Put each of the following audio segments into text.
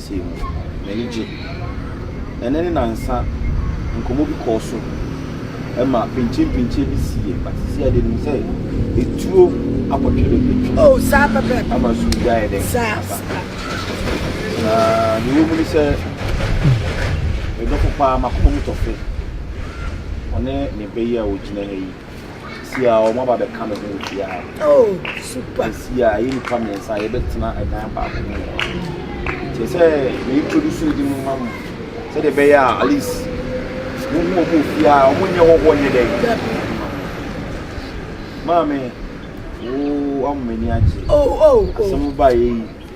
Adanseɛ mu. M'ani gye. Ɛnnɛ ne nnansa nkɔmmɔ bi kɔɔ so ma pinkyenpinkyen bi siiɛ, but seesei deɛ menim sɛ etuo apɔtwere bɛtwam. Oh, saa pɛpɛɛpɛ. Ama sukuu bi ayɛ dɛn? Saa, saa. Na deɛ ɛwɔ mu ne sɛ medɔfo paa, m'akoma mu tɔ fɛ. Ɔne ne ba yi a ɔgyina ha yi. Sisi a wɔn aba bɛka me ho nti a. Oh, super. Sisi a yɛ nipa mmiɛnsa a yɛbɛtena ɛdan baako mu. Kyɛ sɛ me introduce ne di mu ma mo. Sɛdeɛ ɛbɛyɛ a at least mo hu wɔn ofie a wɔn nyɛ hɔhoɔ nyɛ dɛ. Maame, wo ama m'ani agye. Oh, oh, oh. Asɛm ba yɛ yi.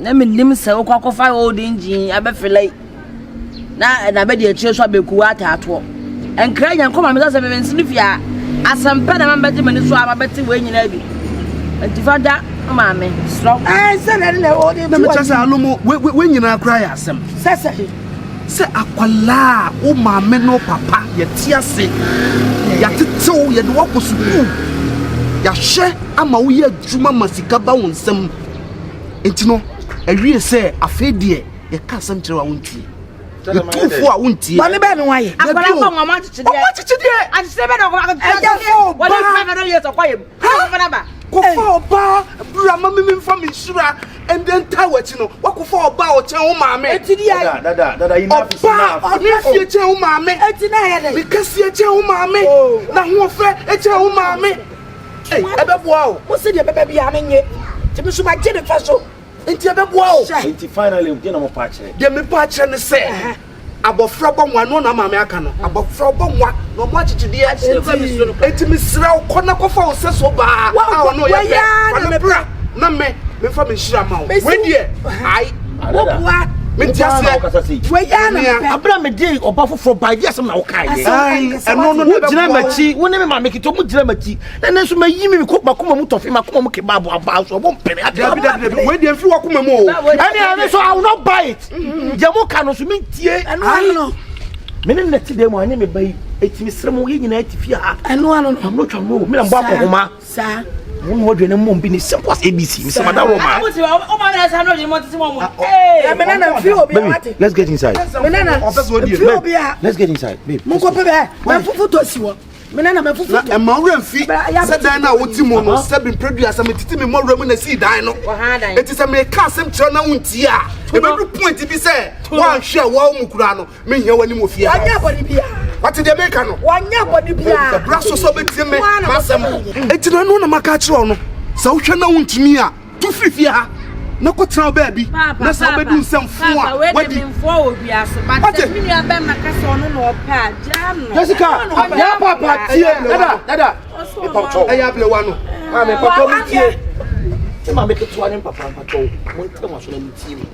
Na mennim sɛ wokɔ akɔfa old engine abɛfela yi na ɛna bɛdi akyire so abɛku ataatoɔ nkra nyankɔ ma mesɛ sɛ mebɛnsene fie a asɛmpɛ na mabɛgye m'ani so a mabɛte wei nyinaa bi nti fa da maame serɛ na mekyɛ sɛ ano mu wei nyinaa koraa yɛ asɛm sɛ sɛ sɛ akwalaa wo maame no papa yɛte ase yɛatetew yɛde woakɔ sukuu yɛahwɛ ama woyɛ adwuma ma sika ba wo nsɛm Enti no, ɛwiee sɛ, Afei deɛ yɛka asɛm kyerɛ wo a wontie. Yɛtu fo a wontie. Bɔne bɛn na wayɛ? Dabi o, ɔmo akyekyedeɛ. Ɛyɛ fo ɔbaa. Kɔfa ɔbaa bra ma me memfa me nhyira ɛnde ntaa w'akyi no, woakɔfa ɔbaa a ɔkyɛn wo maame. Ɔbaa ɔne afie kyɛn wo maame, ne kɛseɛ kyɛn wo maame, n'ahoɔfɛ kyɛn wo maame. Ei, ɛbɛboa o. Wo se deɛ ɛbɛba biara me nye. Nti me nso magye me fa so. Nti ɛbɛboa o. Hyɛ. Nti finally deɛ na mo pa akyerɛ? Deɛ me pa akyerɛ ne sɛ. Ɛhɛn. Abɔfra bɔ nwa, ɛno na maame aka no. Abɔfra ɔbɔ nwa na ɔmo akyekyedeɛ. Nti. Nti mesrɛ wo, kɔ na kɔfa wo sɛso baa a ɔne wo yɛ pɛ. Fa no bra. na me mefa me nhyira ma wo wei deɛ ae wobua mete aseɛ wɛyɛ na mepɛ abira me de ɔba foforɔ ba ɛdi asɛm na wokae yɛ ɛno no wogyina m'akyi wo ne me maame kete ɔmo gyina m'akyi na ne nso mayi me mekɔ makoma mu tɔfe makoma mu keba aboa baa so ɔmo mpere ade dabi dabi dabi wei deɛ mfiri wakoma mu o ɛne ɛne so I will not buy it mm-hmm. deɛ mo ka no so mentie ɛno ano no me ne nɛte dɛ mu ane me ba yi ɛtumi serɛ mo yɛ nyinaa ti fie ha ɛno ano no ɔmo twa mo mena mbɔ akɔhoma saa. Wɔn na wɔdwene mmom bi ne simple as abc mesɛ mada wɔ ma. Baby, let's get inside. Let's get inside, babe. Monkɔ pɛ bɛɛ, mɛfufu tɔ si wɔ mena na mafufu na ɛma wura mfi sɛ dan no a wote mu no sɛ bemprɛdua sɛ metete me mmɔwura mu na sii dan no ɛti sɛ meka asɛm kyerɛ na wontie a ɛbɛdu point bi sɛ woanhwe a woawo mu koraa no Menhia w'anim wɔ fie ha. Wanyɛ bɔne biara. Wate deɛ meka no? Wanyɛ bɔne biara. Bra so sɛ wobɛtie me m'asɛm. Enti na ɛno na maka akyerɛ wo no. Sɛ wohwɛ na wontumi a, tu firi fie ha na kɔtena wo baabi na sɛ wobɛdu nsɛm fo a wadi. Wate? Jessica, yɛn papa tie. Dada, dada. Ɛyɛ ablewa no. Maame, papa mu tie. Te maame ketewa ne papa mpatɔ mo ntɛm aso na mo tie mu.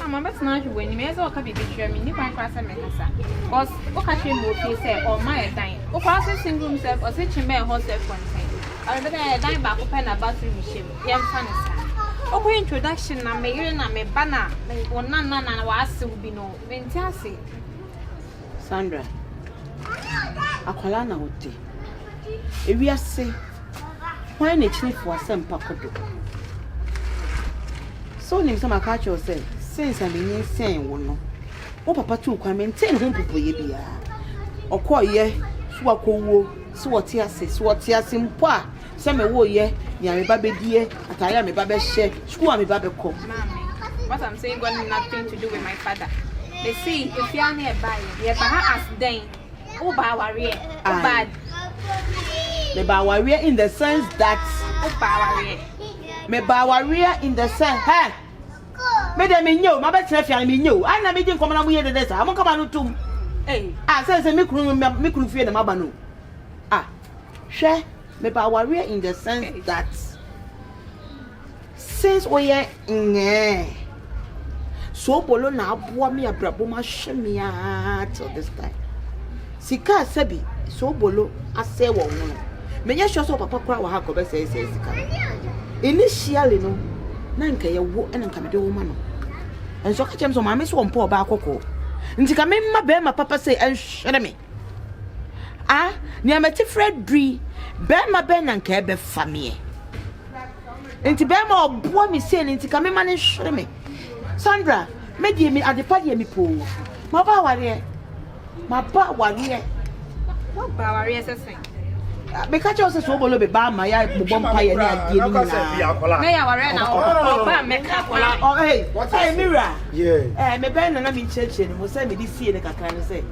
Ah, mabɛtena ahwɛ wɔ anim ɛyɛ sɛ ɔka biribi kyerɛ me nni kwan koraa sɛ mɛkasa cause woka kyerɛ mu ofie sɛ ɔma ɛdan wokora se sing room sɛ ɔse kye bɛɛ hɔ sɛ fɔntɛn ɔrebɛda yɛ ɛdan baako pɛ na bathroom hyɛ mu yɛmfa ne saa wokɔ introduction na me yere na me ba na wo nanana na wɔasew bi no mente ase Sandra, akwadaa na ɔte. Ewiase, hwan na ekyini fo asɛmpa kɔ do? So wonim sɛ maka akyerɛ wo sɛ sense a menyinsɛn wo no, wo papa tuu kwan mentee ne ho mpopoeɛ biara. Ɔkɔeɛ so akɔwuo, so ɔte ase, so ɔte ase mpo a, Sɛ me wo yɛ, nea me ba bɛ diɛ, ataare a me ba bɛ hyɛ, sukuu a me ba bɛ kɔ. Maame, what I'm saying got nothing to do with my father. Me se efi a na ɛba yɛ, yɛ ba ha as dɛn? Wo ba awareɛ, wo ba. Me ba awareɛ in the sense that. Wo ba awareɛ. Me ba awareɛ in the sense, hɛ. Me de me nye o, ma bɛ tena fia me nye o. Ana me di nkɔmɔ na mo yɛ dede sa, mo kama no tum. Ah, sɛ sɛ me kunu me kunu fie na ma ba no. Ah. Hwɛ, meba awareɛ in the sense that since woyɛ nyɛɛ soobolo na aboa me abrabɔ mu ahwɛ me aa till this time. Sika a sɛbi soobolo asɛe wɔ ho no, menyɛ sure sɛ wɔ papa koraa wɔ ha nkɔbɛsɛe sɛe sika no. Initially no, na nka yɛ wo ɛna nka mede wo ma no. Nso ka kyɛm sɛ maame so ɔmpɛ ɔbaa kɔkɔɔ. Nti ka memma bɛrima papa sɛ ɛnhwere me. a nea mete frɛ dui bɛrima bɛn na nka ɛbɛfa meɛ nti bɛrima ɔboa me sei no nti ka mema no nhwere me sandra me deɛ me adepa deɛ me poo maba awareɛ maba awareɛ maba awareɛ sɛ sɛn meka kyerɛ wo sɛ sɛ wobɔlɔ bɛba ama yɛ bobɔ mpa yɛ ne adeɛ no nyinaa mebɛn nana menkyerɛkyerɛ no mu sɛ mede sie no kakra no sɛ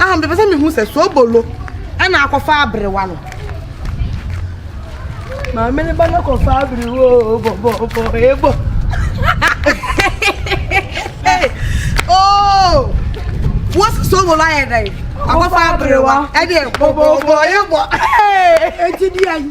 Ah, mepɛ sɛ mehu sɛ soobolo ɛna akɔfa aberewa no. Maame ne ba no kɔfa aberewa o, bɔbɔbɔ, ebɔ. Oh, wọ́n sì soobolo ayẹ dẹ yìí. Akɔfa aberewa ɛdeɛ bɔbɔbɔ ebɔ. Eti di ayi.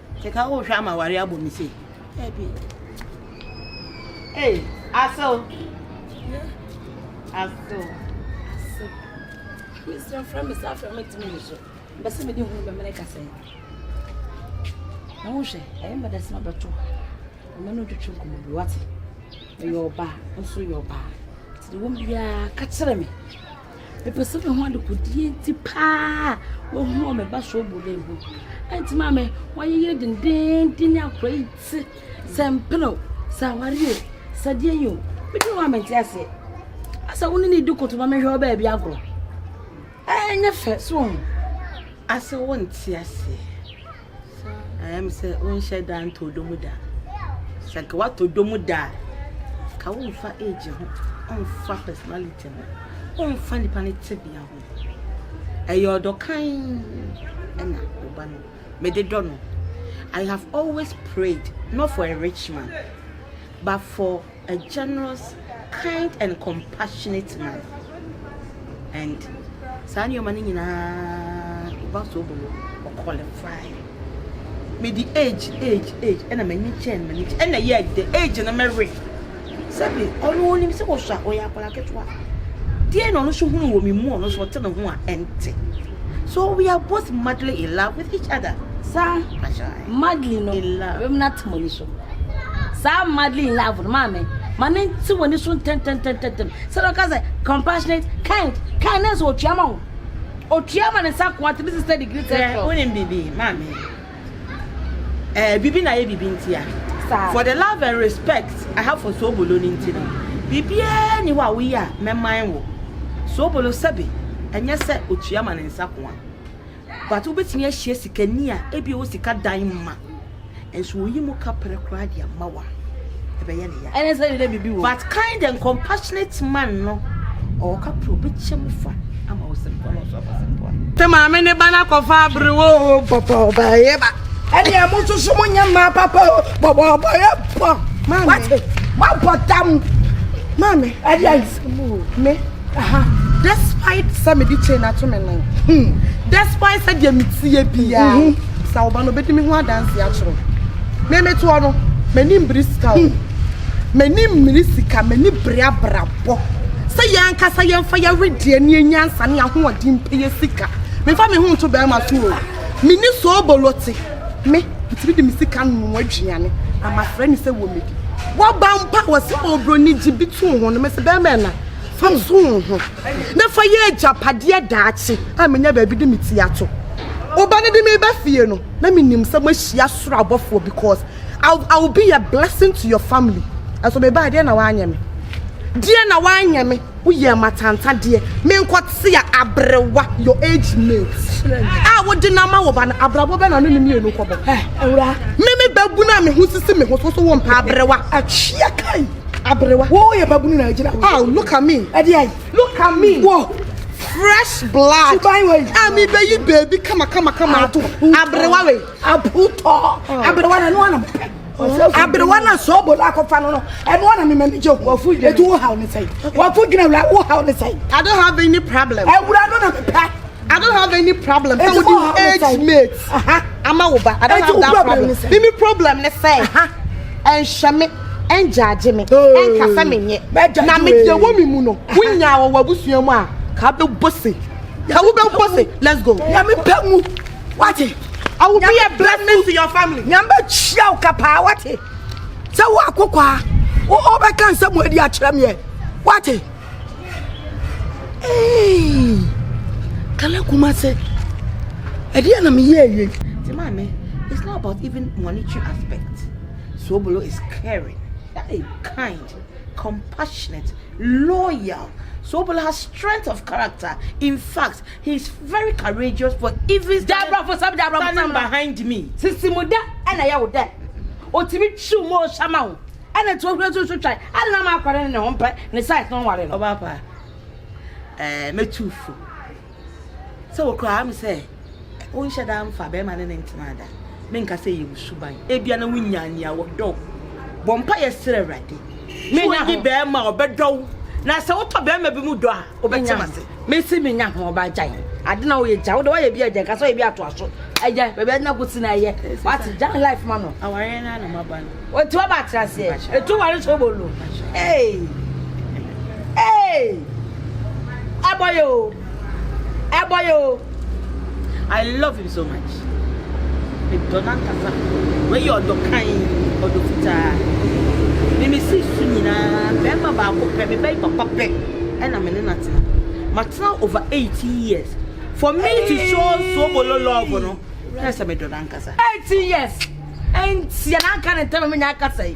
Sika wo hwɛ ama wari abɔ mi sei. Ebi. Hey, aso. Aso. Aso. Mr. Frɛ me sa frɛ me timi ni so. Bɛsɛ me di hunu bɛ mene kasa yi. Na wo hwɛ, ɛyɛ mbɛ dɛsɛ ma bɛto. Ɔmɛ no twetwe nkɔmɔ bi wate. Ɛyɛ ɔba, nso yɛ ɔba. Ti wo biara ka kyerɛ me. Mepɛ sɛ mehu adekodeɛ nti paa a wɔhu wɔ me ba sobo no ho. Ɛnti maa me wɔayeyere dendeenden ne akora yi ti sɛ mpene o, sɛ aware o, sɛ deɛ yi o. Medi hɔ a mente aseɛ. Asɛ wo ne ne di koto ma mehwɛ wo baabi agorɔ. Ɛnyɛ fɛ so ho. Asɛ wo nte aseɛ. Ayɛ me sɛ wonhyɛ da ntɔ dɔ mu da. Sɛ nka woatɔ dɔ mu da a, ka womfa age ho, womfa personality ho, womfa nipa no tebea ho. Ɛyɛ ɔdɔ kann ɛna ɔba no. Mede dɔ no. I have always prayed not for a rich man but for a generous, kind and compassionate man and saa nneɛma no nyinaa ɔba so bɔ no ɔ qualify mede age age age ɛna m'ani kyɛn m'ani kyɛn ɛna yɛ de age no mɛwe sɛbi ɔno onim sɛ wɔsɔ a ɔyɛ akwadaa ketewa deɛ na ɔno nso hunu wɔ me mu ɔno nso ɔte ne ho a ɛnte so we are both madly in love with each other saa madeline no wɛm no atemɔni so saa madly in love no maa me ma ne nte w'ani so ntɛntɛntɛntɛm sɛ na ɔka sɛ compassionate kind kind na ɛsɛ otua ma wo otua ma ne nsa ko ate business na degree tɛ sɛ wonim biribi maa me ɛɛ biribi na yɛ biribi nti a for the love and respect I have for Sobolo ne nti no biribiara ni hɔ a woyɛ a mɛman wo Sobolo sɛbe ɛnyɛ sɛ otua ma ne nsa ko a but wobɛtumi ahyia sikani a ebi ɔwɔ sika dan ma nso oyi mu kaprɛ koraa de ama wa ɛbɛyɛ ne ya ɛne sɛ ne bibi wɔ but kind and compassionate man no ɔwɔ kaprɛ ɔbɛkyɛ mu fa ama wo sɛmpa no ɔso afa sɛmpa te maame ne ba no akɔfa abere wo pɔpɔ ɔbɛyɛ ba ɛne ɛmo soso mo nyɛ mmaa papa o bɔbɔbɔ yɛ bɔ wate wabɔ tam maame ɛdeɛ Me ha despite sɛ mede chain ato me nan hmm despite sɛ deɛ meteɛ biara hmm. sɛ wo ba no bɛdi me ho adanse akyerɛ me metoɔ no m'ani mbere sika o m'ani mmiri sika m'ani bere abrabɔ sɛ yɛn ankasa yɛmfa yɛwedeɛ ne yɛnya nsa ne ahoɔden mpɛyɛ sika mefa me ho nto bɛrima so o meni soobolote Me, metumi de me sika nom aduane na mafrɛ no sɛ wɔ me di. Wɔba mpo a wɔsɛ obroni gye bi to ho no, mese bɛrima ɛna fa so wo ho na fa yɛ agyapadeɛ daakye a menya baabi de me ti ato. Woba no de me ba fie no, na menim sɛ moahyia soro abɔfoɔ because I, I will be a blessing to your family. Ɛso mebaa deɛ na wanyɛ me. Deɛ na wanyɛ me. Wo yɛ amatantadeɛ, me nkɔ te a abrewa, your age mate. A wo de na ma wo ba no, abrabɔ bɛ na no ne mienu kɔ bɔ. Eh, ewura. Me me ba bunu a me ho sisi me ho so so wo mpa abrewa. Akyia kai, abrewa. Wo yɛ ba bunu na agyina wo. Oh, look at me. Ɛde ayi. Look at me. Wo. Fresh blood. Suban wei. A me bɛ yi baby kama kama kama ato. Abrewa wei. Aputɔ. Abrewa na no anam. aberewa na sɛ ɔbɔ la akɔfa no no ɛno ana mema ne gye ho ɛti wo haw ne sɛe wafo dwene awura wo haw ne sɛe I don't have any problem awura no na mepɛ I don't have any problem sɛ wode wo age mate ama wo ba I don't have that problem mimi problem ne sɛ ɛnhyɛ me ɛngyagye me ɛnka sɛ menyɛ na medeɛ wɔ me mu no wonyaa wɔ w'abusua mu a ka bɛbɔ se ka wobɛbɔ se let's go nyame pɛ mu wate I will be a blessing to your family nyame kyia wo kapaa wate sɛ wo akokwaa wo ɔbɛka nsɛm mu adi akyerɛ meɛ wate ee kala kuma se ɛdeɛ na meyɛ awie nti maame it's not about even monetary aspect Sobolo is caring hey, kind compassionate loyal Sobolo has strength of character in fact He's very courageous for even standing behind me. Sisi mu dɛ na yɛ wo dɛ. Otumi twiw mu ɔhyɛ ma wo. Ɛna nti ohwɛ so so twan. Ɛna na ma akware no ne ho mpɛ ne size no nware no. Ɔba pa. Eh, me too fo. Sɛ wo kura am sɛ wo nhyɛ da mfa bɛrima ne ne ntena da. Me nka sɛ yɛ wo suban. Ebia na wo nya nea wo dɔ. Bɔ mpa yɛ srɛ Awurade. Me nya ho. Wo bɛrima ɔbɛdɔ wo. Na sɛ wotɔ bɛrima bi mu dɔ a. wobɛte mase mesi menya ho ɔba agya yi ade na woyɛ gya wode woayɛ bi agya nka sɛ woyɛ bi atoa so agya baabi ade na kɔsi na ɛyɛ wate gya life ma no awareɛ no na maba no ɔti waba atra aseɛ ɛtu ware so bolo ee ee ɛbɔyɛ o ɛbɔyɛ o I love him so much. Medɔ no ankasa. Wei yɛ ɔdɔ kann, ɔdɔ fitaa. Mimi si su nyinaa, bɛrima baako pɛ, me bɛyi papa pɛ, ɛna me ne no atena. Matena over 18 years. For me to show Sobolo love no, na sɛ medɔ no ankasa. 18 years, ɛntia na anka ne ntam me nya akasa yi.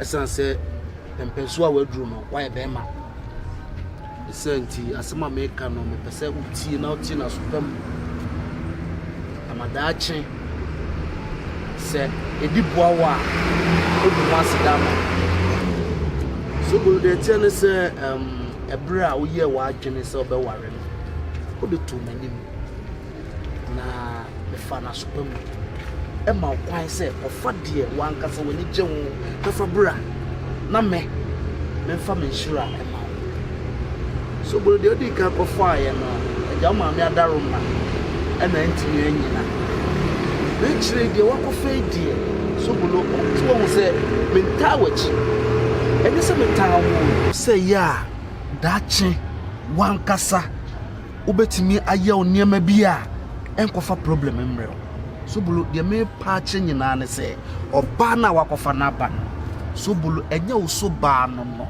ɛsiane sɛ mpɛnsoɔ a waduru no wayɛ bɛrima ɛsɛ nti asɛm a meka no mepɛ sɛ wotie na wotie no asopa mu ama daakye sɛ ɛdi boa wo a ɛbu ho ase da ma so bolo deɛ ɛteɛ ne sɛ ɛberɛ a woyɛɛ w'adwene sɛ wobɛware no wode to m'anim na mefa n'asopa mu ma wo kwan sɛ kɔfa deɛ wankasa w'ani gye ho na fa bra na me memfa me nhyira ma wo so boro deɛ ɔdi kan kɔfaaeɛ no agya wo maame adaro ma ɛna ntumi anyina na akyire deɛ wakɔfa yi deɛ so bolo nti wɔhu sɛ mentaa w'akyi ɛne sɛ metaa wo sɛ yɛ a daakye wankasa wobɛtumi ayɛ wo nneɛma bi a ɛnkɔfa problem mmerɛ wo sobolo deɛ mepa akyerɛ nyinaa ne sɛ ɔbaa no a wakɔfa no aba no sobolo ɛnyɛ wo so baa no no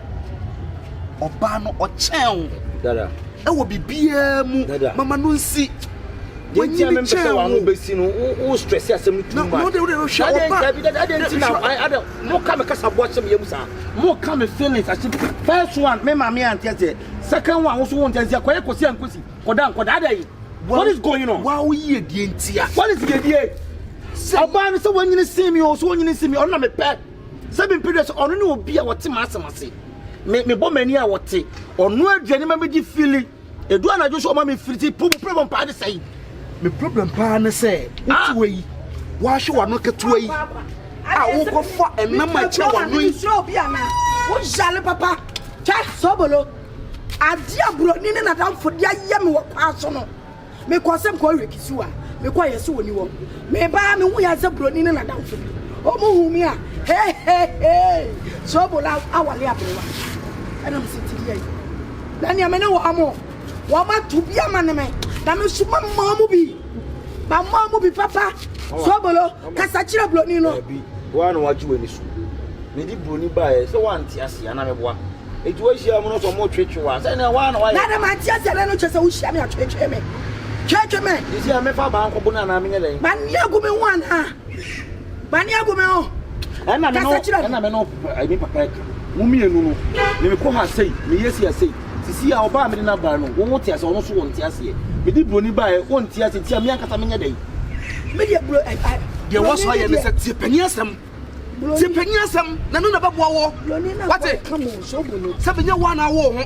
ɔbaa no ɔkyɛn wo ɛwɔ biribiara mu mama no nsi wanyini kyɛn wo sɛ wɔn ano bɛsi no wo stress asɛm no too much na de nka bi dada de nti na ada mo ka me kasa bo ahyɛ me yam saa mo ka me feelings ahyɛ first one me maame ante aseɛ Second one also won't just say kosi and kosi. Koda and koda day. What is going on? Wow, ye dientia. What is ye die? Ọba no sɛ wanyini sin mi o so wanyini sin mi ɔno na mepɛ sɛ mempere sɛ ɔno ne obi a wɔte m'asɛm ase me mebɔ m'ani a wɔte ɔno aduane ma megye fili ɛdu anadwo so ɔma mefiri ti po problem paa ne sɛi me problem paa ne sɛ wotiwa yi woahwe w'ano ketewa yi a wokɔfa ɛnam akyerɛ w'ano yi woyale papa Kyɛ, Sobolo, adeɛ a buroni ne n'adamfo de ayɛ me wɔ kwan so no, mekɔɔ sɛ mekɔhwɛ hwɛ kisiwa. Mekɔeɛ sɛ ɔnni hɔ. Mebaa a mehuu yɛn sɛ buroni ne n'adamfo bi. Wɔhuu me a, heheheei! Sobolo awareɛ aberewa. Ɛnna mesɛ, Tiri yɛn. Na nea me ne wɔn. wɔato bi ama ne me na me nso mamaa mu bi mamaa mu bi papa sobolo kasa kyerɛ buroni no woa na woagye w'ani so mede buroni baeɛ sɛ woante ase ana meboa ɛti woahyia mu no sɛ motwetwe wo a sɛ ne woa na woayɛ na dɛ mante ase ɛbɛ no kyɛ sɛ wohyia me atwetwe me twetwe me ɛsi a mefa baa nkɔbo no anaa menyɛ dɛn manneago me ho anaa Bani agu me ho. Ɛna me no ɛna me no ɛmi papa ɛka. Mo mmienu no me me kɔ ha sei me yɛ si asei. Sisi a ɔbaa mi de na baa no wɔn wɔn ti ase ɔno so wɔn ti aseɛ. Me di buroni baa yɛ wɔn ti ase ti a mi ankasa mi nyɛ dɛ. Me deɛ buro ɛ ɛ. Deɛ wɔ so ayɛ ne sɛ tie panyin asɛm. Tie panyin asɛm na no na bɛ boa wɔ. Wate sɛ mi nyɛ wɔn a na awo ho.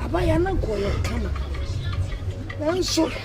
Abaya na nkɔ yɛ kama. Nanso.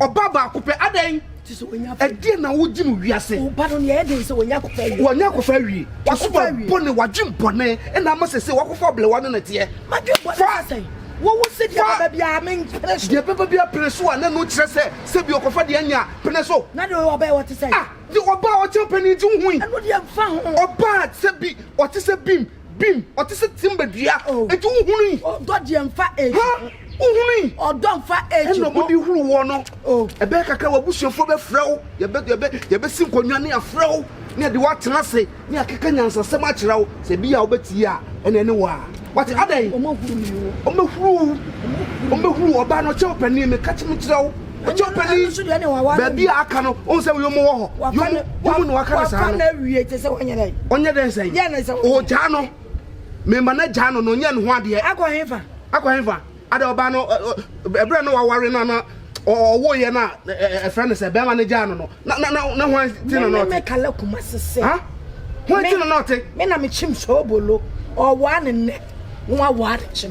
Ɔba baako pɛ, adɛn? Ɛdeɛ na wogye no wiase. Ɔba no nea ɛden sɛ wɔnya akɔfa awie. Wɔnya akɔfa awie. Wɔsoba bɔne, wadwen bɔne, ɛna ama sɛ sɛ wakɔfa ɔblewa no na ɛteɛ. Madwen bɔne sɛ sɛn? Wowu sɛ deɛ bɛba biara mempene so. Deɛ bɛba biara pene so a, na ɛno kyerɛ sɛ sɛ bi ɔkɔfa deɛ anya a, pene so. Na deɛ ɔyɛ ɔba a ɔte sɛn? Ah, deɛ ɔba a ɔkyɛ mpanin gye wo hui. Ɛno deɛ mfa ho. Ɔba a sɛ bi ɔte sɛ bim. Bim, ɔte sɛ timba dua. Oh. Enti wo hunu yi. Ɔdɔ deɛ nfa age ho. Ha, wo hunu yi. Ɔdɔ nfa age ho. Ɛna ɔbɔde huru wɔ no. Oh. Ɛbɛyɛ kakra w'abusuafoɔ bɛfrɛ wo, yɛbɛ, yɛbɛ, yɛbɛsi nkonnwa ne afrɛ wo, ne yɛde w'atena ase, ne yɛakeka nyansasɛm akyerɛ wo, sɛ ebi a wobɛtie a, ɛna ɛne wɔ a. Wate, adɛn? Ɔmɛhuru wo. Ɔmɛhuru wo. Ɔmɛhuru wo. Ɔbaa no ɔkyɛ wo panin, meka kyem kyerɛ wo. ɛkyɛ ɔpɛni baabi a aka no ɔn sɛ yom wɔ hɔ yom yom na waka no saa no ɔnyɛ dɛn sɛn ɔgyaa no mema no agyaa no na ɔnyɛ ne ho adeɛ akɔ hefa akɔ hefa ada ɔbaa no ɛberɛ na waware no na ɔwoyɛ no a ɛfrɛ no sɛ bɛrima no gyaa no no na na na na hwan ti na na ɔte kala kuma sese ha hwan ti na na ɔte me na mekyim sɛ ɔbolo ɔwaa ne nnɛ na wawaa ne kyena